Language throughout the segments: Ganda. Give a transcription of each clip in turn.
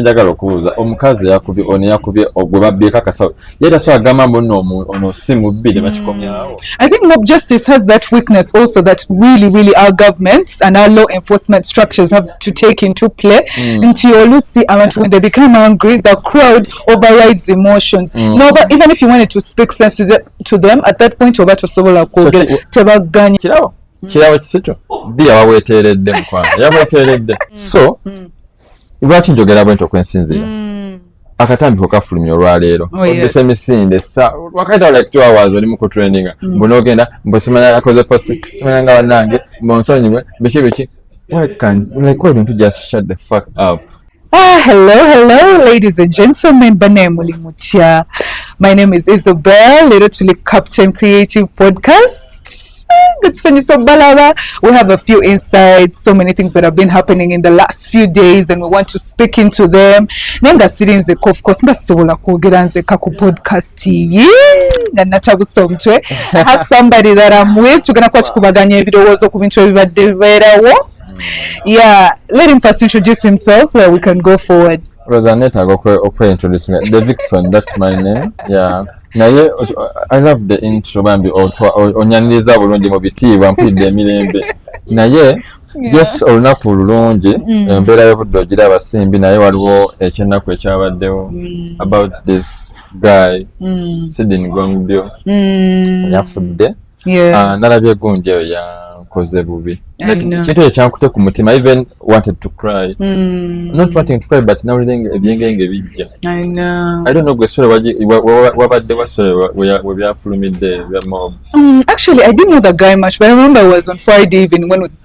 njagala okubuuza omukazi yakubye ono yakubye ogwe babbyeko akasawo yali asobola agamba mbu no ono si mubbi ne bakikomyawo i think mob justice has that weakness also that really really our governments and our law enforcement structures have to take into play mm. nti olusi abantu when they become angry the crowd overrides emotions mm. no but even if you wanted to speak sense to, the, to them at that point oba tosobola kwogera tebaganye kirabo kirabo kisito bbi yabaweteeredde mukwano yabaweteeredde so mm. lwaki njogera bwenti okwensinzira mm. akatambi kokafulumya olwaleero oh, oduse emisinde wakaita like two hours oli mukutraininga mm. mbu nogenda mbu simanya akoze posi simanya nga banange mbu nsonyiwe biki biki ebintu just shut the fuck up Ah, hello, hello, ladies and gentlemen. Bane Mulimutya. My name is Isabel, Little Captain Creative Podcast. Good to so Balaba. We have a few insights, so many things that have been happening in the last few days, and we want to speak into them. Nenga siri nze of course ndasobola kwogera nze ka ku podcast iyi nga natabusomtwe. I have somebody that I'm with. Tugenda kuba tukubaganya ebirowoozo ku bintu ebibadde bibeerawo. Mm. Yeah, let him first introduce himself so that we can go forward. Rosa netaga okwe introduce me the Vixen that's my name yeah naye I love the intro bambi otwa onyaniriza bulungi mu bitiibwa mpulidde emirembe naye yes olunaku lulungi mm. embeera y'obudde ogira abasimbi naye waliwo ekyennaku ekyabaddewo mm. about this guy mm. sidin gongdio yafudde ah, nalabye egunja eyo yankoze bubi kintu ekyo kyankute ku mutima even wanted to cry mm. not wanting to cry but nawulire ebyengenge bijja i don't know gwe sore wabadde wa sore we byafulumidde bya mob um, actually i didn't know the guy much but i remember i was on friday even when we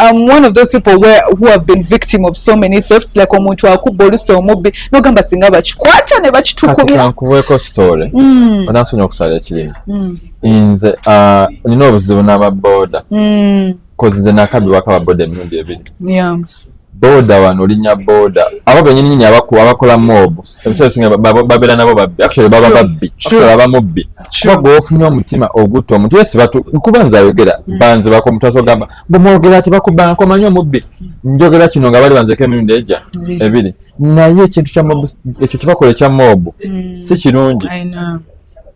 I'm one of those people where who have been victim of so many thefts like omuntu akubba olusi omubbi nogamba singa bakikwata ne bakitukubira nkuweeko story mm. onansonyi okusala ekirimi mm. nze uh, nina obuzibu n'ababoda mm. kozi nze nakabibwako ababoda emirundi ebiri boda wano olinya boda abo benyininyini abakola mobu babeera nabo babbi actually baba babbi baba mubbi kuba gweofunye omutima ogutta omuntu yesi kuba nze ayogera mm. banze bakomutaso gamba bwemwogera ti bakubbanko manyi omubbi njogera kino nga bali banzeko emirundi eja mm. ebiri naye ekintu ekyo kyebakola ekya moobu mm. si kirungi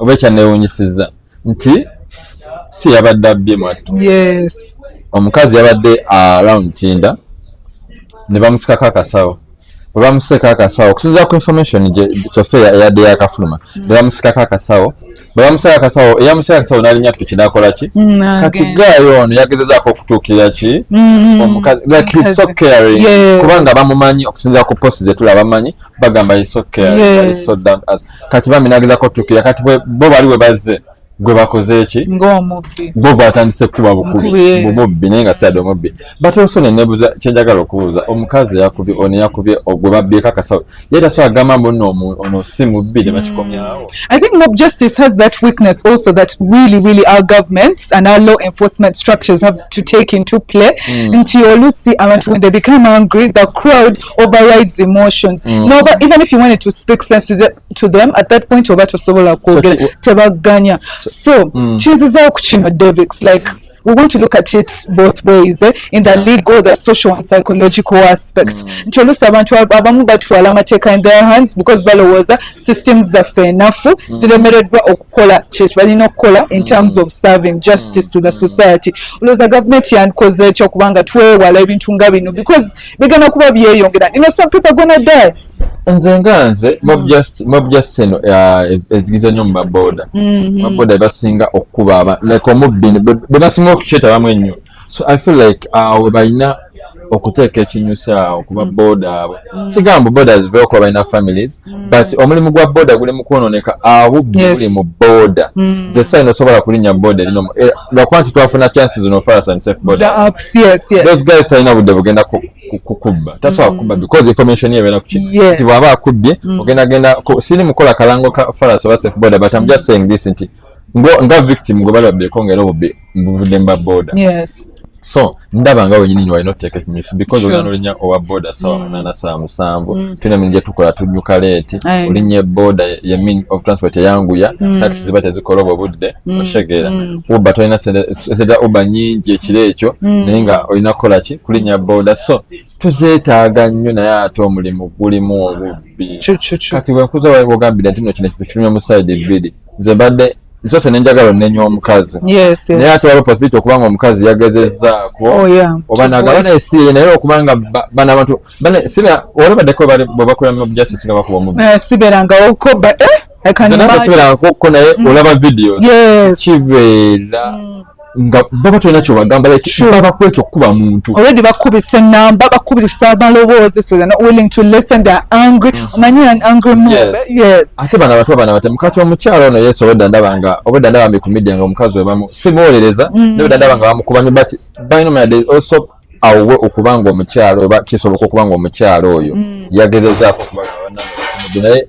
oba ekyanneewunyisizza nti si yabadde abbye mwattu omukazi yabadde around tinda ne bamusikako akasawo bwe bamusiika akasawo okusinzira ku information kyofe eyadde yakafuluma mm. ne bamusikako akasawo bwe bamusiika akasawo eyamusiika akasawo nalinya piki nakola ki mm, kati gaayo ono yagezezaako okutuukirira ki mm, omukazi like he's so caring kubanga bamumanyi okusinzira ku post zetula bamanyi bagamba he's so caring he's so down as kati bambi nagezako tukira kati bo bali we bazze gwe bakoze eki bo batandise kukuba bukubi bumubbi naye nga siade omubbi but also nenebuza kyenjagala okubuuza omukazi yakubye ono yakubye ogwe babbyeko akasawo ye tasobola kugamba mbu no ono si mubbi ne bakikomyawo mm. i think mob justice has that weakness also that really really our governments and our law enforcement structures have to take into play mm. nti olusi abantu when they become angry the crowd overrides emotions mm. no, but even if you wanted to speak sense to, the, to them at that point oba tosobola kwogera so, tebaganya so, so mm. kinzizawo ku kino davics like we want to look at it both ways eh? in the legal the social and psychological aspect mm. nti oluusi abantu abamu batwala amateeka in their hands because balowooza systems zaffe enafu mm. ziremereddwa okukola kyekyo balina okukola in mm. terms of serving justice to the society olowooza gavumenti yandikoze ekyo kubanga twewala ebintu nga bino because bigenda kuba byeyongera nino some people gonna die nze nga nze mobjasti eno ezigiza nyo mumaboda maboda ebasinga okukuba like omubbi bebasinga okukyetabamu ennyo so i feel like awo uh, balina okuteeka ekinyusa awo kuba boda abo sigamba boda ziveokuba balina families Mm. but omulimu gwa boda guli mukwononeka ahubbi yes. guli mu boda mm. the sign osobola kulinya boda erino eh, lwakuba nti twafuna chances no fire and safe boda yes, yes. those guys talina budde bugenda kukubba tasobola mm. kubba because information yebeera kuki yes. nti bwaba akubbye mm. ogenda genda siri mukola kalango ka faras oba safe boda but am just saying this nti nga victim gwe bali babbeeko nga era obubbi mbuvudde mba boda so ndaba nga wenyini nyo walina oteeka ekimisu because olina olinya owa boda sawa mm. munana sawa musanvu mm. tulina emirimu gyetukola tunyuka leeti olinya eboda ye mean of transport eyanguya mm. taxi ziba tezikola obwo budde oshegeera uba tolina sente za uba nyingi ekiro ekyo naye nga olina kukola ki kulinya boda so tuzeetaaga nnyo naye ate omulimu gulimu obubbi kati wenkuza wagambira nti no kino kintu kirumya mu sayidi bbiri nze mbadde nsose nenjagala onenya omukazi naye ate waliwo possibility okuba nga omukazi yagezezaako oh, oba nagaba naye si naye okuba nga bana abantu siba olabadeko bwebakola mu justice nga bakuba omubi eh, siberangawokoba eh? ko naye mm. olaba video kibeera mm. nga baba tolina kyobagamba baba kwekyo okukuba muntu already bakubisa enamba bakubisa amaloboozi so they're not willing to listen they're angry mm. omanyi mm. an angry mob yes. yes ate bana batu abana batemu kati omukyalo ono yesu obwedda ndaba nga obwedda ndaba mbi ku media nga omukazi webamu simuwuliriza mm. naye obwedda ndaba nga bamukuba nyo but by no man they also awowe okuba nga omukyalo oba kisoboka okuba nga omukyalo oyo mm. yagezezaako okuba naye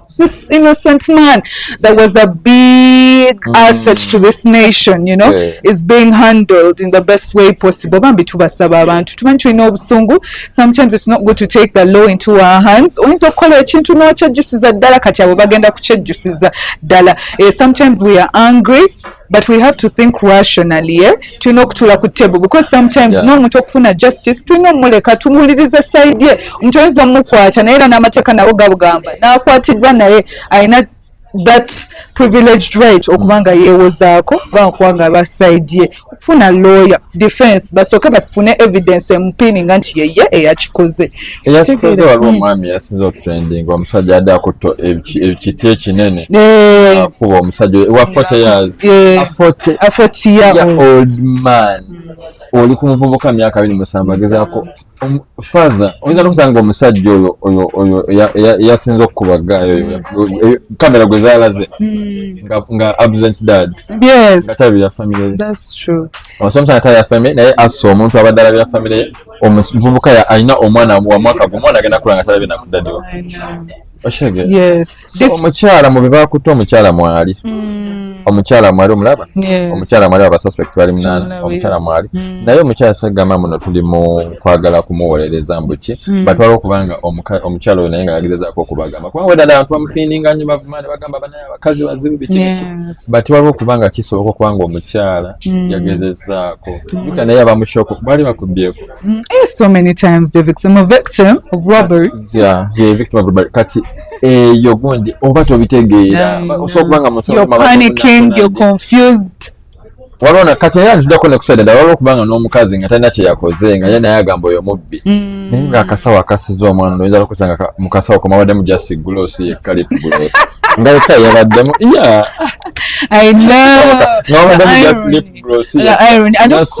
this innocent man that was a big mm. asset to this nation you know yeah. is being handled in the best way possible bambi tubasaba abantu tumanyi tulina obusungu sometimes it's not good to take the law into our hands oyinza okukola ekintu n'okyejjusiza ddala kati abo bagenda kukyejjusiza ddala eh, sometimes we are angry but we have to think rationally eh? tulina okutula ku table because sometimes yeah. n'omuntu okufuna justice tulina omuleka tumuwuliriza side ye omuntu oyinza omukwata naye era n'amateeka nawo gabugamba n'akwatiddwa naye alina that privileged right okuba nga yeewozaako kuba okuba nga aba side ye okufuna lawyer defense basooke bafune evidence emupiininga nti yeye eyakikoze eyatukoze waliwo omwami yasinza otrending omusajja yadde akutta ekiti ekinene eh. akuba omusajja wa 40 years eh. a 40 year old man oli ku muvubuka myaka abiri musanvu agezaako um, father oyinza nokusanga omusajja oyo oyo oyo eyasinza okukuba gaayo oyo kamera gwe zalaze hmm. nga absent dad nga tabira famire ye omusajja omusajja tabira famire naye assa omuntu abadde alabira famire ye omuvubuka alina omwana wa mwaka gwe omwana agenda kula nga talabye nakudadiwa omukyala mu bebakutte omukyala mwali hmm. omukyala mwali omulaba omukyala mwali abasuspect bali munaana omukyala mwali hmm. naye omukyala sagamba muno tuli mu kwagala kumuwolereza mbuki hmm. batwala okubanga omukyala oyo naye nga yagezezako okubagamba kubanga wedala abantu bamupininga nyo bavuma ne bagamba abakazi bazibu bikiniki but waliwo okuba nga kisoboka okuba nga omukyala mm. yagezezaako mm. yuka naye aba mushoko baali bakubyeko mm, eh, so many times the victim a victim of robbery yeah ye victim of robbery kati eyo eh, gundi oba tobitegeera osobola okuba nga musobola panicking you're confused walona kati naye antudako nekusada dala waliwo kubanga n'omukazi nga talina kyeyakoze nga ye naye agamba oyo mubbi mm. naye nga akasawo akasiza omwana noyinza nokusanga mukasawo komabaddemu jasi gulosi yekka lipu gulosi nga yekka yabaddemu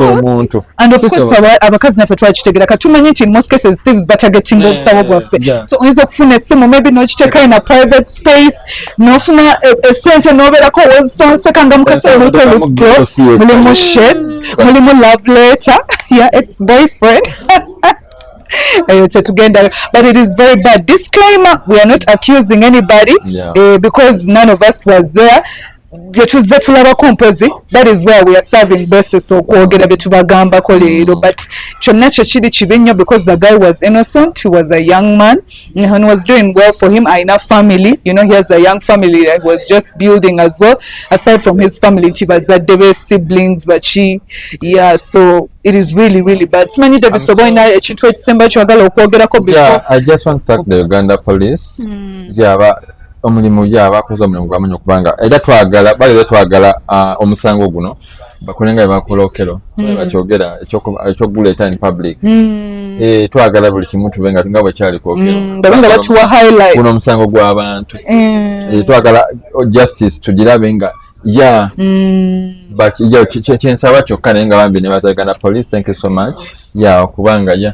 omuntu abakazi naffe twakitegera katumanyi nti most cases thieves batagetinga obusawo bwaffe so oyinza okufuna essimu maybe nokiteekayo na private space nofuna esente eh, eh, noberako wezisonseka nga mukasa omuliko lipgloss mulimu shades mulimu love letter ya ex boyfriend eyo tetugendayo but it is very bad disclaimer we are not accusing anybody yeah. uh, because none of us was there byetuzze tulabako mpozi that is where we are serving basis okwogera byetubagambako leero but kyonna kyo kiri kibi nnyo because the guy was innocent he was a young man and was doing well for him alina family you know he has a young family that he was just building as well aside from his family nti bazadde be siblings baki yeah so it is really really bad simanyi david soba olina ekintu ekisemba kyagala okwogerako before yeah, i just want to thank the uganda police mm. yeah, but omulimu ya bakoze omulimu gwamanyi okubanga era twagala bali betwagala uh, omusango guno bakole nga bebakola okero mm. bakyogera ekyokuguleeta in public mm. e, twagala buli kimu tube nga nga bwekyali kwokeroguno mm. omusango gwabantu mm. e, twagala justice tugirabe nga ya mm. kyensaba kyokka naye nga bambi nebatagana police thank you so much ya okubanga ya yeah.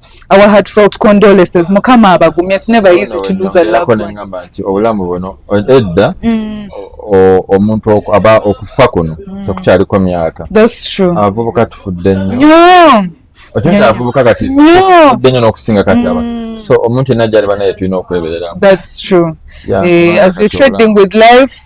our heartfelt condolences mukama abagumye it's never easy to lose a loved one ngamba nti obulamu buno edda mm. omuntu aba okufa kuno mm. tekukyaliko myaka that's true abavubuka tufudde nnyo okintu abavubuka kati tufudde nnyo n'okusinga kati aba mm. so omuntu yenna gyali banaye tulina okwebereramu that's true yeah, eh, as we trading with life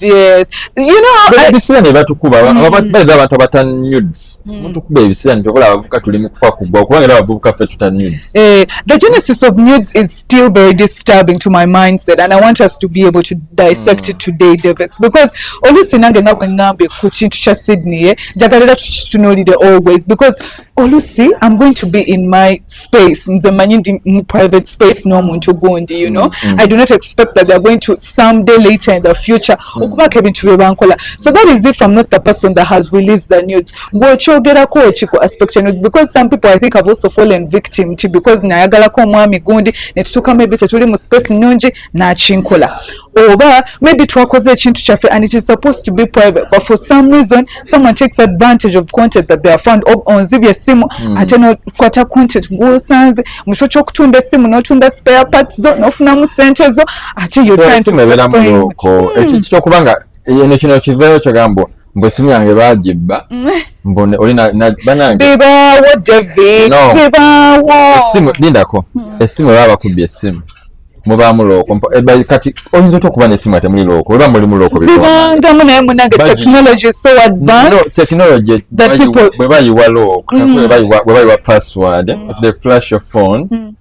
yes you know ebisira ne batukuba mm. ababaza abantu abata nude mm. mutukuba ebisira ne tokola abavuka tuli mu kufa kubwa kubanga era abavuka ffe tuta nude eh the genesis of nudes is still very disturbing to my mindset and i want us to be able to dissect mm. it today david because olusi nange nga bwe ngambe ku kintu kya sydney eh jagalira tukitunulire always because olusi am going to be in my space nze manyi ndi mu private space n'omuntu gundi you know mm, mm. i do not expect that theyare going to some day later in the future mm. okubaako ebintu bye bankola so that is if i'm not the person that has released the nudes ng'okyogerako ki ku aspect ya nudes because some people i think have also fallen victim ti because nayagalako omwami gundi ne tutuukamu ebyo tetuli mu space nnungi nakinkola oba maybe twakoze ekintu kyaffe and it is supposed to be private but for some reason someone takes advantage of content that they are found onzibye esimu mm. ate nokwata content gwosanze mukifo kyokutunda esimu notunda spare parts zo nofunamu sente zo ate yoeberamuko ekintu hmm. kyokuba nga eno kino kiveeyo kyogambwa mbu esimu yange bagibba mm. mbone oli banange bibawo david bibawo esimu lindako hmm. esimu baba bakubbye esimu mubaamu looko eh, kati oyinza otya okuba nesimu ate muli looko oba mulimu lookoangamu naye munange technology so advanced technology bwe bayiwa looko mm. bwe bayiwa password mm. the flash of phone mm.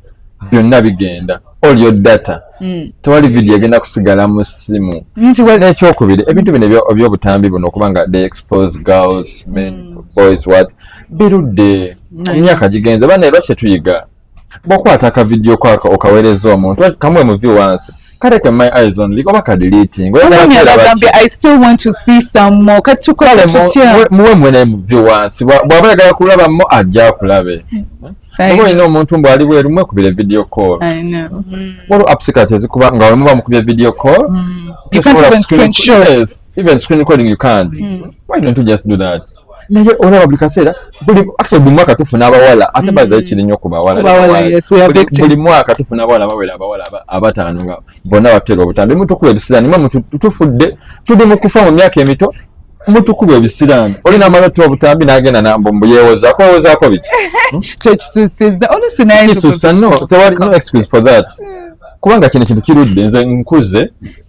byonna bigenda all your data mm. tewali video egenda kusigala mu simu mm, n'ekyokubiri ebintu bino ebyobutambi buno okubanga they expose girls men mm. boys what birudde emyaka gigenze bana era kyetuyiga bwokwata ka video kwako okawereza omuntu kamu emuvi wansi kale ke my eyes on liko baka deleting wewe ni agambe i still want to see some more kachuko kale muwe mwene emuvi wansi bwaba yagala kulaba mo ajja kulabe Obo ino omuntu mbu ali bweru mwe kubire video call. I know. Mm. Wolo apps kati ezikuba nga wemu ba mukubye video call. Mm. You can't even screen share. Even screen recording you can't. Mm. Why don't you just do that? naye olaba buli kaseera buli mwaka tufuna abawala ate mm. baza kiri nnyo ku bawalabuli mwaka tufuna abawala bawera abawala abataano nga bonna batera obutambi mutukula ebisiraani mwe tufudde tuli mu kufa mu myaka emito mutukula ebisiraani olina amala otta obutambi n'agenda nambu mbu yeewozaako wewozaako biki hmm? kyekisusiza olusinakisusa no tewali no excuse for that hmm. kubanga kino kintu kirudde nze nkuze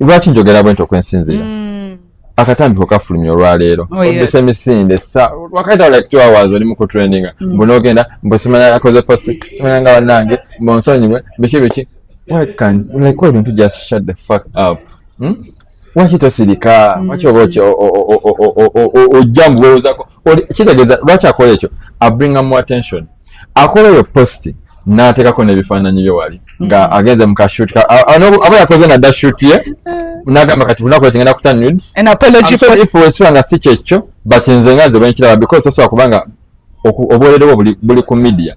lwaki njogera bwenti okwensinzira mm. akatambiko kafulumya olwaleero oh, odduse emisinde wakaita like two hours oli mukutraininga mm. mbu nogenda mbu simanya akoze posi simanya nga banange mbu nsonyiwe biki biki like ebintu just shut the fuck up hmm? waki tosirika mm. waki oba ojja mbuwowozako kitegeeza lwaki akola ekyo abringa mu attention akola oyo posti n'ateekako n'ebifaananyi bye wali nga mm-hmm. agenze mu kashuti aba yakoze nadda shuti ye nagamba kati lunaku ekigenda kuta nudes nga si kyekyo but nze nga nze bwenkiraba because osobola kubanga obwererewo buli ku media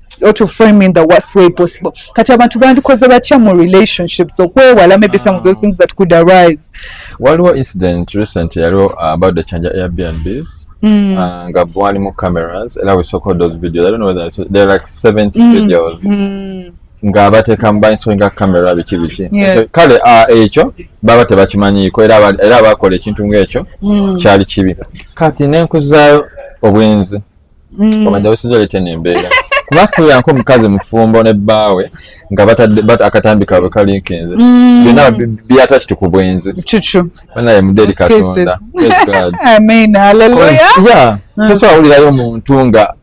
or to frame in the worst way possible kati abantu bandikoze batya mu relationships okwewala maybe some of those things that could arise waliwo incident recent yaliwo uh, about the chanja airbnbs Mm. Uh, nga bwalimu cameras era we soko those videos i don't know whether it's, they're like 70 mm. videos mm. nga batekamu bainsoinga camera biki biki yes. kale uh, ekyo baba tebakimanyiiko era, era bakola ekintu ngaekyo mm. kyali kibi kati nenkuzayo obwenzi mm. omanya osinza oleta eno embeera kuba fuuyanko omukazi mufumbo ne bbaawe nga batadde akatambi kaabwe kalinkinze mm. byonna byata kiti ku bwenzi banaye mudde eri katonda mm. tosobola wulirayo omuntu nga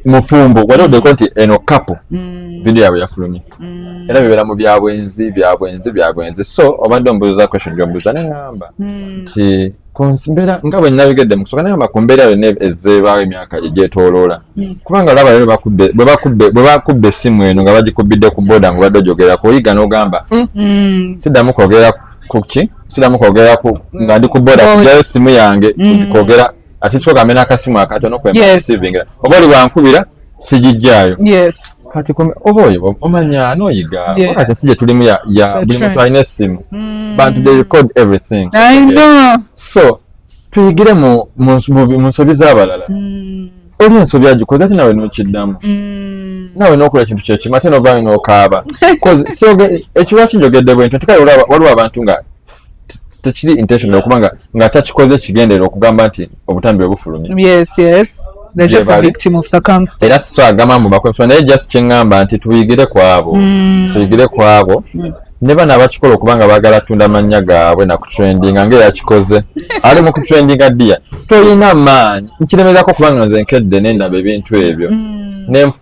mufumbo wali odeko nti eno kapo mm. vidiyo yabwe yafulumye mm. era bibeera mu byabwenzi byabwenzi byabwenzi so obadde ombuuza question gyombuuza neŋamba mm. nti ku mbeera nga bwe nabigedde mu kusooka nayamba ku mbeera yonna ezeebaawo emyaka egyetooloola hmm. kubanga olaba leero bwe bakubba essimu eno nga bagikubbidde ku booda nga obadde ojogera kuoyiga n'ogamba hmm, hmm. siddamu kwogera ku ki siddamu kwogera ku nga ndi ku booda kujayo essimu yange kwogera ati kyoka amena akasimu akatono kwemasivingira oba oli wankubira sigijjaayo yes kati oba oyo omanya noyiga wakati ensi gye tulimu ya buli muntu alina essimu mm. bantu they record everything I know. so tuyigire mu nsobi z'abalala mm. oli ensobi agikoze ate nawe nokiddamu mm. nawe nokola ekintu kyekimu ate novayo nokaaba ekiwaki njogedde bwentyo nti kale waliwo abantu nga tekiri intention okuba nga nga takikoze kigendera okugamba nti obutambi bwe bufulumye yes yes era so agamba mbu bakwefula naye just kyeŋŋamba nti tuyigire ku abo mm. tuyigire ku abo mm. ne bano abakikola okuba nga baagala tunda mannya gaabwe nakutrendinga ngaeyakikoze ali mu kutrendinga dia tolina maanyi nkiremezako kubanga nze nkedde nendaba ebintu ebyo mm.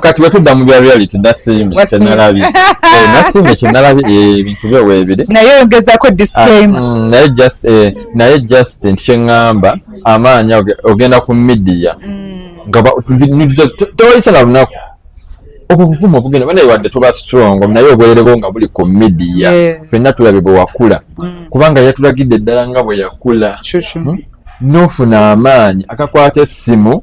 kati bwetudda mu bya reality nasiime kyenalabye eh, nasiime kyenalabye eh, ebintu byo weebiri naye oyongezako ah, disclaimer mm, naye just eh, naye just nti kyeŋŋamba amaanyi ogenda ku midiya mm. nga tewayitala lunaku obwo buvumu obugenda banaye wadde tuba strong naye obwererebo nga buli ku midiya fenna tulabye bwe wakula mm. kubanga yatulagidde eddala nga bwe yakula hmm? n'ofuna amaanyi akakwata essimu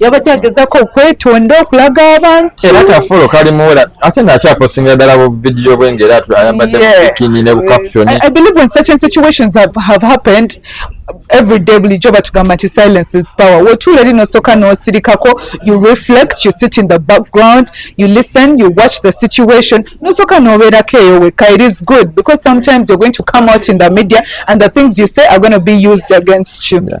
yabadde agezaako okwetonda okulaga abantu era kafulo kali muwera ate ng'akyaposingira ddala bu vidiyo bwe ng'era ayambadde bukini ne bukaputoni i believe when certain situations have, have happened every day bulijjo batugamba nti silence is power wotuula eri nosooka n'osirikako you reflect you sit in the background you listen you watch the situation nosooka n'obeerako eyo wekka it is good because sometimes you're going to come out in the media and the things you say are going to be used against you yeah.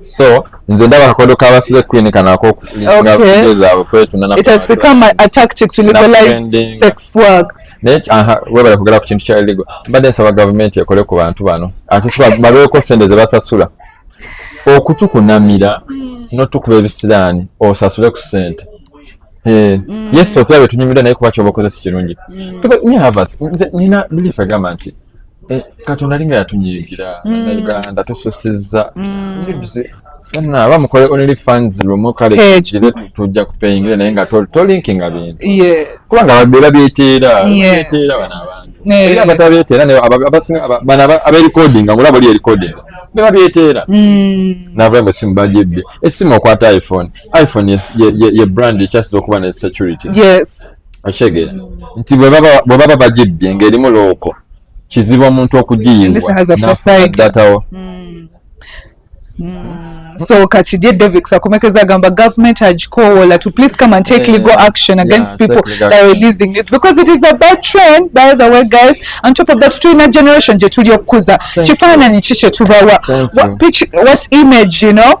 so nze ndaba akakodo ka basile queen kano akokuzaabwe kwetunana it has become a, a tactic to legalize sex work naye aha webale kugera ku kintu kya illegal mbadde nsaba gavumenti ekole ku bantu bano ate babeeko sente ze basasula okutukunamira mm. notukuba ebisiraani osasule ku sente Eh, mm. yes otulabe tunyumira naye kuba kyoba okozesa kirungi mm. nina belief egamba nti Eh, katonda alinga yatunyiigira nauganda mm. tususizza mm. aba mukole only funds lumu kale eh, kire tujja kupeyingira naye nga tolinkinga bintu kubanga babeera byeteera byeteera bano abantu eh. era batabeeteera naye abasinga bano abeerikodinga ngula bali erikodinga beba byeteera mm. nava mbu esimu bagibbye esimu okwata iphone iphone ye brand ekyasiza okuba ne security yes okitegeera nti bwe baba bagibbye ng'erimu looko kizibu omuntu okugiyiwaddatawo hmm. hmm. so kati dear david sakomekeza agamba government agikowoola to please come and take legal action against people that are releasing it because it is a bad trend by the way guys on top of that tulina generation gye tuli okukuza kifaananyi ki kye tubawa what image you know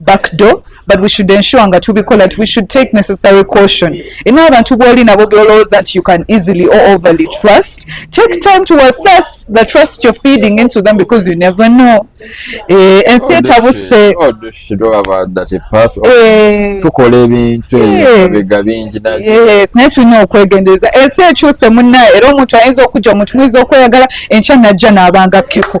back door but we should ensure nga tubikola we should take necessary caution ina abantu bwoli nabo byolowooza that you can easily or overly trust take time to assess the trust you're feeding into them because you never know eh, ensi etabuse oh, oh, eh. tukola ebintu ebibega bingi naye tulina okwegendereza ensi ekyuse munnaye era omuntu ayinza okujja omuntu muyinza okweyagala enkya najja n'abanga keko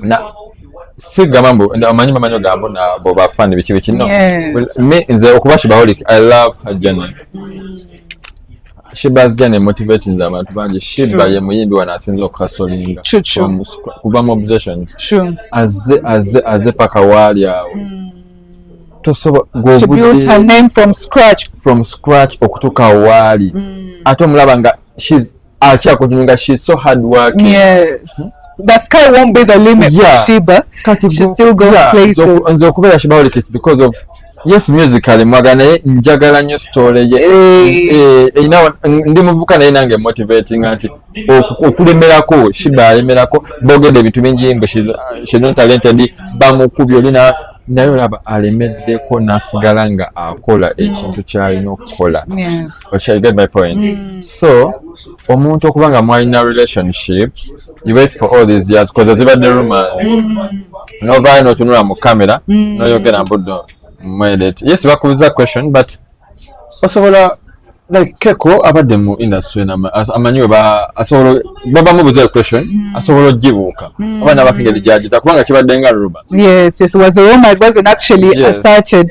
na si gamba mbu amanyi bamanyi ogambo na bo bafani biki biki no me nze okuba shibaholic i love her journey Shiba's journey motivating the abantu bangi Shiba ye muyimbi wano asinze okukasolinga kuva mu obsessions aze aze aze paka waali awo mm. tosobola okutuuka waali mm. ate omulaba nga acha kujiunga she so hard work yes the sky won't be the limit yeah. Shiba Kati she still go yeah. places nzo kubera Shiba oli kit because of yes musically mwagana njagala nyo story ye eh ina eh, eh, ndi muvuka naye nange motivating anti okulemerako Shiba alemerako bogede bitu bingi mbe she she not talented bamukubye oli na naye olaba alemeddeko nasigala nga akola ekintu kyalina okukola Okay, get my point. Mm. So, omuntu okuba nga mwalina relationship, you wait for all these years because ziba the rumors. Mm. No vine no tunula mu camera, mm. no yogera mbudo mwelete. Yes, bakubuza question but osobola like keko abadde mu industry na amanyiwe ba asobola baba mu buze question mm. asobola jibuka mm. abana bakigeli jaji takubanga kibadde nga ruba yes yes was a woman was an actually yes. asserted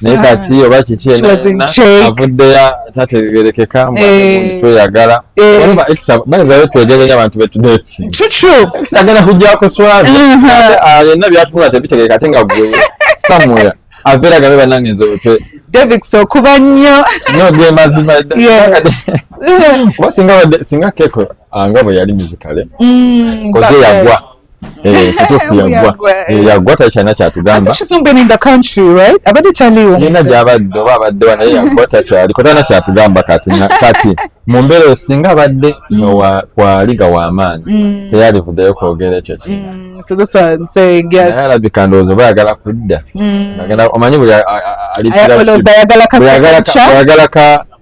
naye kati oba kiki avuddeyo tategerekeka eh. tweyagala eh. baezayo twegerenya abantu betudekiagenda kujjako swali uh-huh. yenna byatunula tebitegeka ate nga gwe somewhere avera gabe banange nze otwe davids okuba nnyo nyo ge mazima kuba singa keko ah, nga bwe yali mizikale mm, koze yagwa Eh, kituufu yaggwa eh, yaggwa takyalina kyatugamba nina gyabadde oba abaddewa naye yaggwa takyaliko talina kyatugamba kati kati mu mbeera eyo singa abadde kwaliga w'amaanyi mm. teyalivuddeyo kwogera ekyo kinayalabika mm, ndowooza oba yagala kudda mm. omanyi buli ayagala ka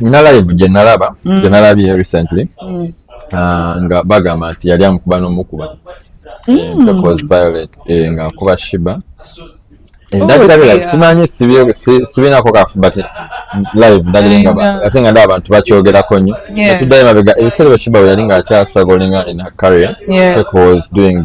nina live gye nalaba mm. gye nalabye recently mm. uh, nga bagamba nti yali amukuba n'omukuba mm. eh, because violet eh, nga akuba shiba ndabira oh, like simanyi sibinako kafu but live ndabira nga uh, ate nga ndaba abantu bakyogerako nnyo natuddayo mabega ebiseera bwe shiba bwe yali nga akyasagolinga in her career yeah. was doing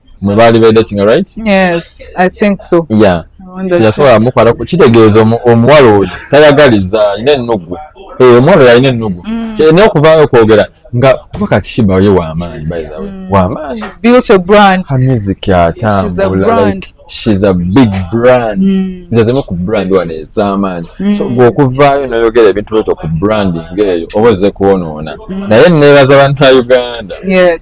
mwe baali bedatinga right yes i think so yeah yasobola mukwala kitegeeza omuwala oyo tayagaliza alina ennugu eh, omuwala oyo alina ennugu mm. naye okuvaayo okwogera nga kuba kakishiba oyo wamaanyi mm. wamaanyi amiziki atambula shes a big brand mm. nze zimu ku brand wano ezamaanyi so gwe okuvaayo noyogera ebintu byoto ku branding eyo oba ozze kwonoona naye nebaza bantu ba uganda yes.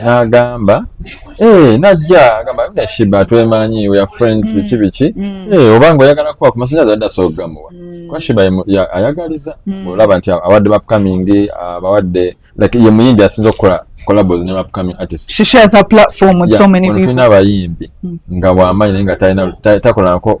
n'agamba eh, najja agamba na shiba twemanyi we are friends mm. biki biki mm. eh, oba nga oyagala kuba ku masanyazi adda asobola okugamuwa mm. kuba shiba ayagaliza olaba nti abawadde bapcoming abawadde like ye muyimbi asinza okukola collabos ne bapcoming artist she shares her platform with so many people abayimbi nga wamanyi naye nga takolanako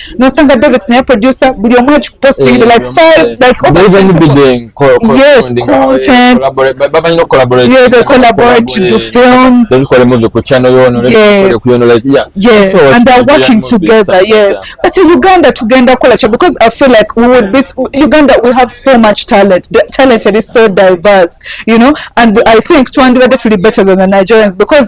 nosanga david naye producer buli omu akikupostinga eh, like five like over even be doing yes eh, content bamanyi no collaborate yeah they collaborate to do films they call movie ku channel yono yes ku yono like yeah yes and they're working together yes but in uganda tugenda kola cha because i feel like we would be uganda we have so much talent the talent is so diverse you know and i think twandibadde tuli better than the nigerians because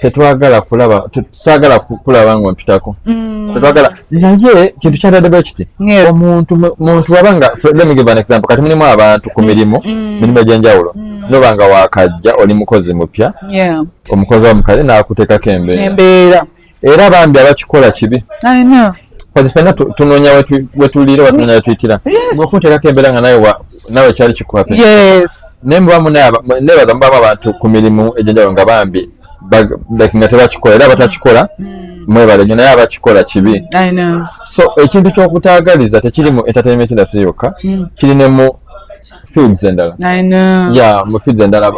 tetwagala kulaba tusagala kulaba nga mpitako mm. tetwagala naye kintu kyadadde bwe kiti omuntu muntu waba nga let me give an example kati mulimu abantu ku mirimu mm. mirimu egy'enjawulo mm. noba nga wakajja oli mukozi mupya omukozi wa mukale n'akuteekako embeera era bambi abakikola kibi kati fenna tunoonya wetuliira watnonya wetuyitira ngaokunteekako embeera nga naye nawe kyali kikwata yes naye muba munebaza mubamu abantu ku mirimu egyenjawulo nga bambi nga tebakikola era batakikola mm. mwebale nyo naye abakikola kibi so ekintu kyokutagaliza tekiri mu entertainment industry yokka mm. kiri ne mu fields endala ya mu fields endala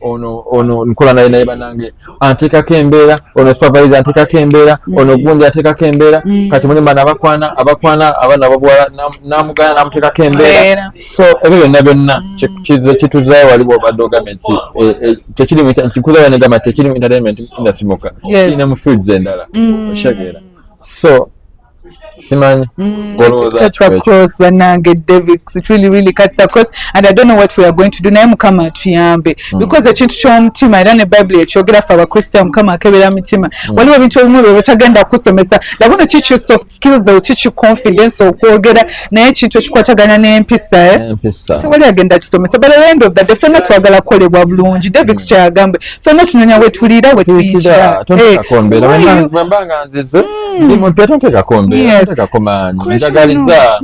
ono ono nkola naye naye banange anteekako embeera ono supervisor anteekako embeera mm. ono gundi anteekako embeera mm. kati muli mbaana abakwana abakwana abaana babuwala namugana namuteekako embeera so ebyo byonna byonna mm. kituzayo waliwo obadde ogambye nti eh, eh, tekirinkikuzayo negamba nti tekiri mu entertainment industry mukka kirina mu fields endala oshageera so simanyi mm, banange david it really really cuts across and i don't know what we are going to do naye mukama atuyambe mm. because ekintu kyomutima era ne bible ekyogera fe abakristayo mukama akebera mitima mm. waliwo ebintu ebimu byo betagenda kusomesa laguno kikyo soft skills though kikyo confidence okwogera naye ekintu ekikwatagana n'empisa eh? tewali agenda kisomesa but at the end of the day fena twagala kukolebwa bulungi david mm. kyagambwe fena tunonya wetulira wetuyitira bwembanga nzize ndi muntu era ntekako mbeera ntekako maanyi njagaliza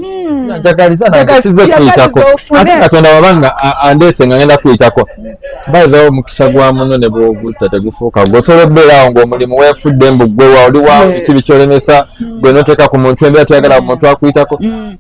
njagaliza nagasize kuyitako ate katonda wabanga andeese nga ngenda kuyitako bayirawo omukisa gwa muno ne bwogutta tegufuuka gwe osobola okubeerawo ngaomulimu weefudde mbu gwewa oli wa kibi kyolemesa gwe noteeka ku muntu embeera toyagala muntu akuyitako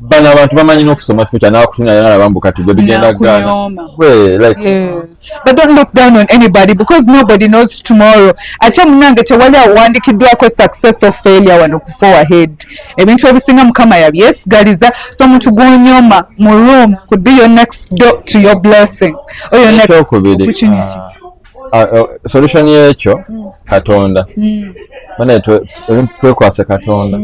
bano abantu bamanyi n'okusoma future n'akutunga yala bambu kati gwe bigenda gana gwe like yes. but don't look down on anybody because nobody knows tomorrow ate munange tewali awandikiddwako success of failure wano ku four ahead ebintu ebisinga mukama yabyesigaliza so omuntu gwonyoma mu room could be your next door to your blessing or your next opportunity uh, Ah, eh, solution yekyo hmm. katonda hmm. banaye twekwase katonda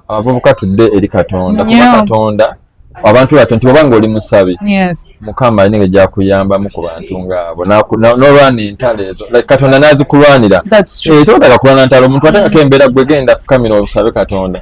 abavubuka tudde eri katonda kuba katonda abantu bato nti oba ngaoli musabi mukama alina ejakuyambamu ku bantu ngaabo nolwana entalo ezo katonda nazikulwanira eh, totaka kulwana ntalo omuntu atangako embeera gwegenda fukamira obusabe katonda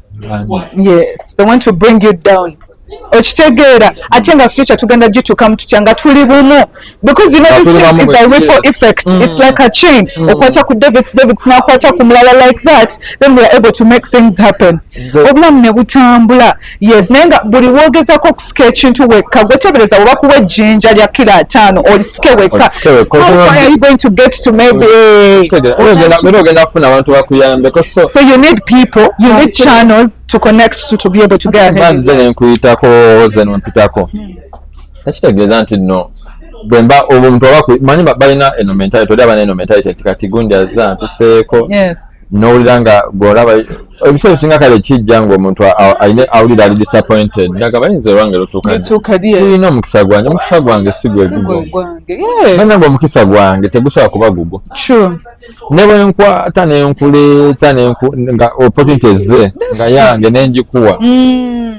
yes they want to bring you down okitegeera ate nga future tugenda gitukamu tutya nga tuli bumu because you know this thing is a ripple effect mm. it's like a chain mm. okwata ku david david nakwata ku mulala like that then we are able to make things happen obulamu ne butambula yes naye nga buli wogezako olisika ekintu wekka gwetebereza oba kuwa ejjinja lya kilo ataano olisike wekka nkuyitako oze nompitako takitegeeza nti no bwemba omuntu oba manyi balina eno mentality oli abana eno mentality nti kati gundi azza ntuseeko nowulira nga gweolaba ebiseera ebisinga kale kijja ngaomuntu aine awulira ali disappointed naga bayinza olwange lutuukaulina omukisa gwange omukisa gwange sigwegugoanange omukisa gwange tegusobola kuba gugwo ne bwenkwata nenkuleeta nga opportunity ze nga yange nengikuwa mm.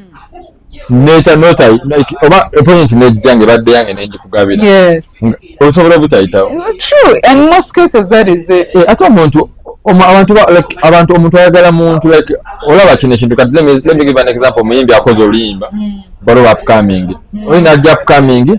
neta nota like oba appointment nejja nge badde yange ne njikugabira yes osobola obutayitawo true and most cases that is it eh, ate omuntu abantu like abantu omuntu ayagala muntu like olaba kino ekintu kati let me, let me give an example muyimbi akoze oluyimba mm. balo upcoming mm. oyina ajja upcoming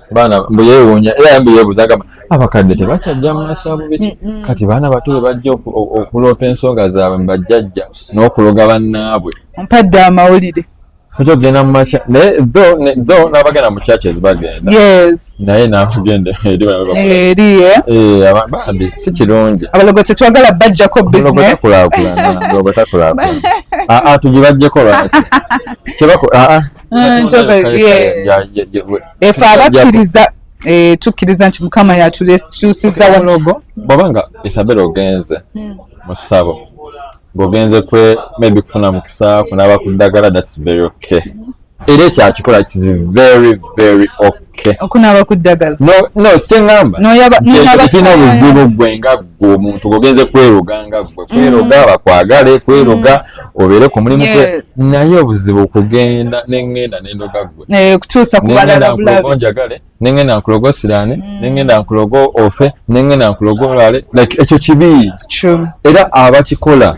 baana mbu yeewuunya era mbu yeebuuza agamba abakadde tebakyajja mu masaabu biki kati baana bato bwe bajja okuloopa ensonga zaabwe mu bajjajja n'okuloga bannaabwe mpadde amawulire oja okugenda mu makya naye tho n'abagenda mu churches bagenda naye nakugenda eri eh? eh, bambi si kirungi abalogo tetwagala bajjako businesstakulakulana ah, ah, tugibajjeko lwaki kyebako aa ah, mm, efe abakkiriza eh, tukkiriza nti mukama yatukyusiza wanogo bwaba nga isabela ogenze hmm. mu ssabo ng'ogenze kwe maybe kufuna mukisa kunaaba ku ddagala thats very okay era ekyakikola kiri very very okay okunaaba ku ddagala nokyengambakirina obuzibu gwe nga gwe omuntu ogenze kweroga nga gwe mm. kweroga bakwagale kweroga mm. obeere ku mulimu gwe naye obuzibu kugenda nengenda nendoga gwe eh, kutuusakubalalaonjagale nengenda nkuloga osiraane mm. nengenda nkuloga ofe nengenda nkuloga olwale like ekyo kibi era abakikola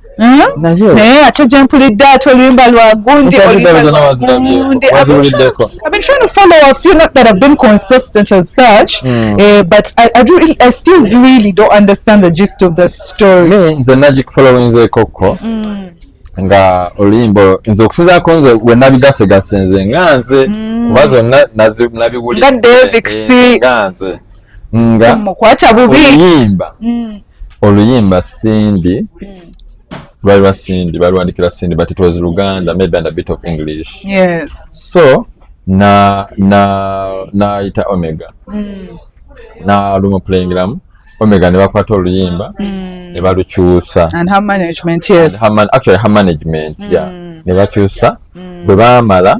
Hmm? naye ate gyempulidde ati oluyimba lwa gundi nze nagikufolowinzekokko nga oluyimba nze okusinzako nze wenabigasegase nze nga nze hmm. kuba zonna nabiwulira nga nze nga mukwata bubi oluyimba hmm. oluyimba cindy hmm. lwali lwa cindy balwandikira cindy but it was luganda maybe and a bit of english yes. so na na nayita omega mm. nalumupulengiramu omega nebakwata oluyimba mm. nebalukyusa actually her management mm. yeah nebakyusa mm. bwe bamala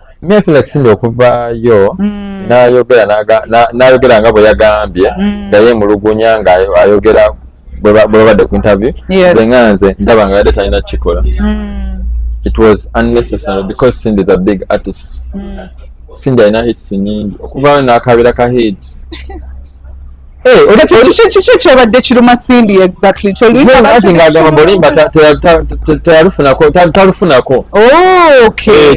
Netflix ndio kuvaayo mm. nayogera nayogera nga bwe yagambye mm. nga yemulugunya nga ayogera bwe babadde ku interview yeah. nga nze ndaba nga yadde talina kikola mm. it was unnecessary because Cindy is a big artist mm. Cindy alina hits nyingi okuvaayo n'akabeera ka hit kiki kyabadde kiruma sindi exactly talufunako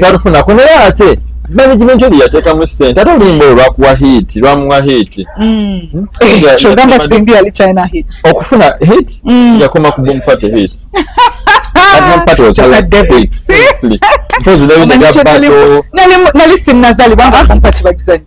talufunako naye ate management oli yateekamu sente ate olimba olwakuwa hit lwamuwa hit mm. hmm? okufuna hit mm. yakoma ku boom party hit nali sinnazalibwa nga boom party bagizanyo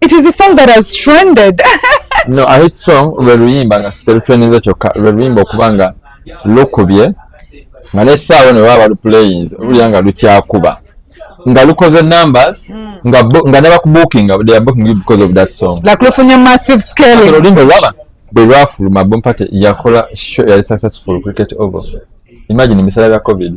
It is a song that has trended. no, a hit song lwe luyimba nga siterutrendinze kyokka lwe luyimba okuba nga lukubye nga nesaawa ne baba baluplaying olulya nga lukyakuba nga lukoze numbers hmm. nga nga ne bakubukinga they are booking you because of that song like lufunye massive scale olulimi olwaba bwe lwafuluma bompate yakola show yali successful cricket over imagine emisala bya covid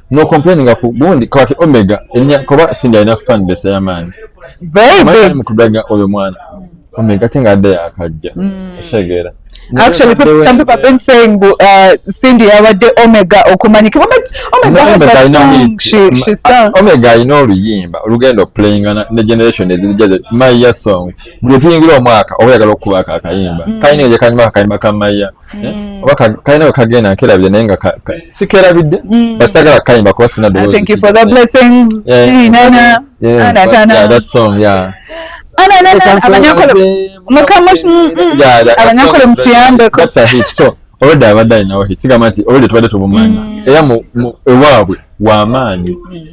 no complaininga ku gundi kwaki omega enya kuba singa ina fan base ya man very big mukubega oyo mwana omega tinga ade akajja mm. segera actually people, some people have been saying uh, cindy abadde omega okumanyika omega has that song she, she sang omega alina oluyimba olugenda okuplayinga ne generation ezirijaze maya song buli tuyingira omwaka oba oyagala okukubaako akayimba mm. kalina eje kanyuma akayimba ka maya Eh? oba kalina we kagenda nkerabye naye nga sikerabidde mm. but sagala kayimba kuba sina abanyankole mukiyambeko olwedde abadde alinawo kigamba nti olwedde tubadde tubumanya mm. era ewaabwe wamaanyi mm.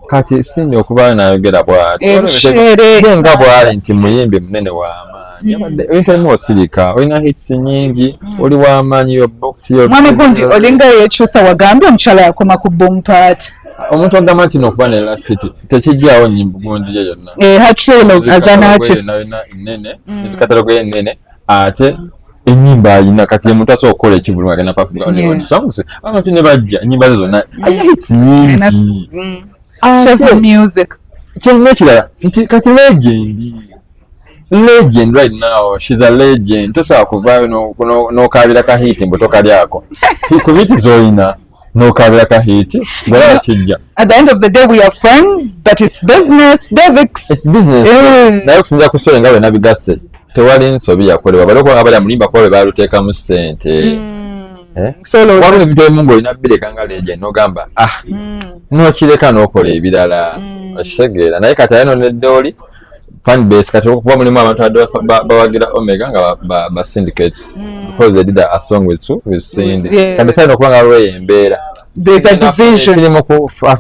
kati sindi okuba nayogera bwatyenga eh, bwali nti muyimbi munene wamaanyi hmm. abadde ebintu ebimu osirika olina hits nyingi hmm. oli wamaanyi yobmwami gundi olinga yekyusa wagambye omukyala yakoma ku boom part omuntu agamba nti nokuba ne lasiti tekijjawo nyimbu gundi ye yonna eh, nene hmm. ezikatalogo enene ate enyimba ayina kati omuntu asobola okukola ekivulu agenda kwafuaonsoungs abantu ne bajja enyimba ze zonna ayina hits nyingi kyonna ekirala nti kati legendi legend right now she's a legend tosobola kuvaayo n'okaabira ka hit mbu tokalyako hikubiti zolina nokabira ka hit ngolaba kijja at the end of the day we are friends but it's business devix it's business eh. naye okusinzira ku story nga wena bigasse tewali nsobi yakolebwa bali okuba nga bali amulimba kuba bwe baaluteekamu ssente mm. Eh? wabula ebintu ebimu ngaolina bireka nga leje nogamba ah mm. nokireka nokola ebirala mm. okitegeera naye kati aye nonedde oli fan base kati okuba mulimu abantu abadde bawagira omega nga ba syndicate hmm. because they did a song with su with cindy kandi saina okuba nga waliwo eyo embeera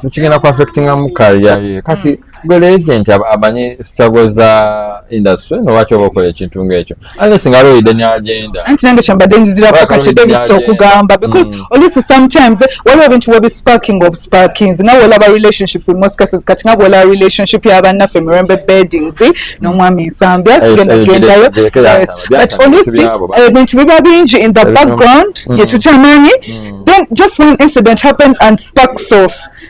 kigenda ku affectingamu kalya ye kati hmm. gwe legent amanyi struggle za industry nolwaki oba okola ekintu ngaekyo Alice nga always danya agenda. Anti nange kyambadde nzizira ko kati David so kugamba because mm. Alice sometimes eh, waliwo bintu webi sparking of sparkings nga wolaba relationships in most cases kati nga wolaba relationship ya bannaffe mirembe beddings eh, n'omwami Nsambi asigenda gendayo but Alice eh, ebintu biba bingi in the background mm. yetutamanyi mm. then just one incident happens and sparks off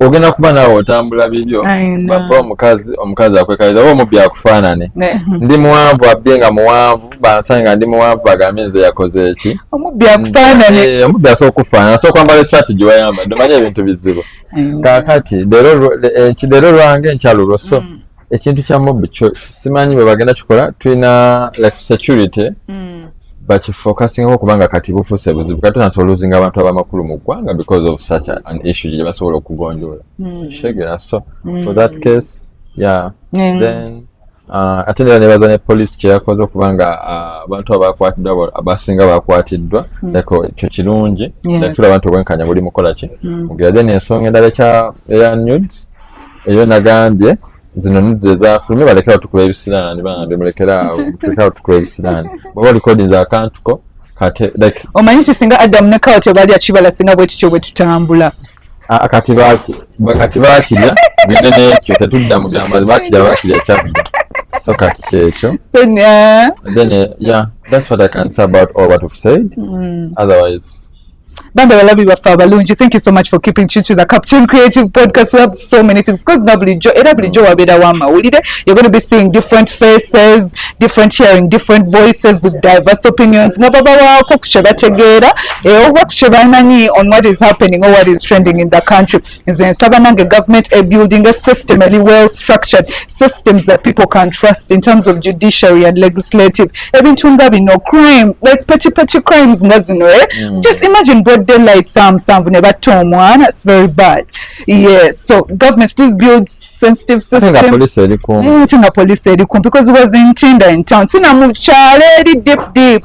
ogenda kuba naawe otambula bibyo baba omukazi omukazi akwekaliza oba omubbi akufaanane ndi muwanvu abbye nga muwanvu bansange nga ndi muwanvu bagambye nze yakoze eki omubbi akufaanane eh, omubbi asobola okufaanana asobola kwambala esaati gye wayambadde omanye ebintu bizibu kakati leero eh, lwange nkyalulwo so mm. ekintu kya mob kyo simanyi bwe bagenda kikola tulina like security mm. bakifocusingako kubanga kati bufuuse buzibu kati tunasobola oluzinga abantu abamakulu mu ggwanga because of such an issue gye basobola okugonjoola mm. kitegeera so mm. for that case yeah mm. then uh, ate nera nebaza ne police kyeyakoze okubanga uh, abantu abakwatiddwa abasinga bakwatiddwa mm. like ekyo kirungi yeah. tulaba nti obwenkanya buli mukola ki mm. mugera then ensonga endala eya nudes eyo nagambye zino nidde zafulumye balekera otukula ebisiraani bambi mulekera awo mulekera otukula ebisiraani bwaba olikodinza akantuko kate like omanyi ki singa adamu ne kawati obalya kibala singa bwe kityo bwe tutambula ah, ah, kati baki kati bakirya bine nekyo tetudda mugamba bakirya bakirya kyabira so kati kyekyo then uh, yeah that's what i can say about all what we've said mm. otherwise Banda balabi baffe abalungi thank you so much for keeping chichi the captain creative podcast we have so many things because na bulijjo era bulijjo wabeerawo amawulire you're going to be seeing different faces different hearing different voices with diverse opinions nga babawaako ku kye bategeera eh, oba ku kye bamanyi on what is happening or what is trending in the country nze nsaba nange government a building a system eli well structured systems that people can trust in terms of judiciary and legislative ebintu nga bino crime like petty petty crimes nga zino eh? mm. just imagine broad daylight saa musanvu ne batta omwana its very bad yes so government please build sensitive system nga police eri kumpi mm, nga police eri kumpi because it was in tinder in town sina mu kyalo eri deep deep